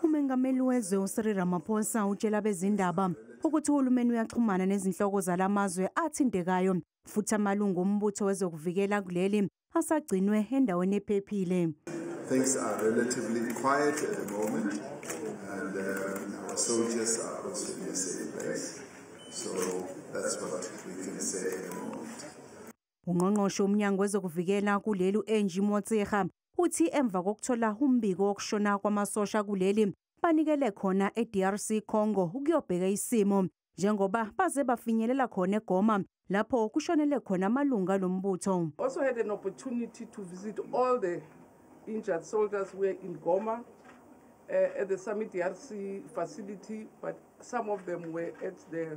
Umengameli wezwe uCyril Ramaphosa utshela bezindaba ukuthi uhulumeni uyaxhumana nezinhloko zalamazwe athintekayo futhi amalungu ombutho wezokuvikela kuleli asagcinwe endaweni ephephile. Things are relatively quiet at the moment and uh, our soldiers are also in a safe place. So that's what we can say at the moment. UNgqongqoshe woMnyango wezokuVikela kuleli u-Angie Motshekga uthi emva kokuthola umbiko wokushona kwamasosha kuleli banikele khona eDRC Congo ukuyobheka isimo njengoba baze bafinyelela khona eGoma lapho kushonele khona amalungu alombutho. Also had an opportunity to visit all the injured soldiers were in Goma uh, at the Summit DRC facility but some of them were at the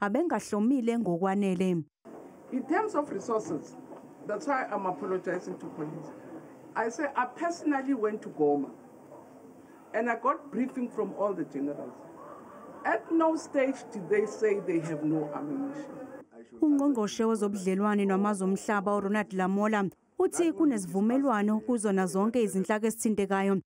abengahlomile ngokwanele. In terms of resources, that's why I'm apologizing to police. I say I personally went to Goma and I got briefing from all the generals. At no stage did they say they have no ammunition. Ungqongqoshe wezobudlelwane namazwe omhlaba uRonald Lamola uthi kunezivumelwano kuzona zonke izinhlaka esithintekayo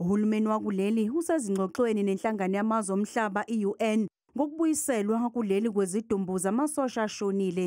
Uhulumeni wakuleli usezingxoxweni nenhlangano yamazwe omhlaba i-UN ngokubuyiselwa kuleli kwezidumbu zamasosha ashonile.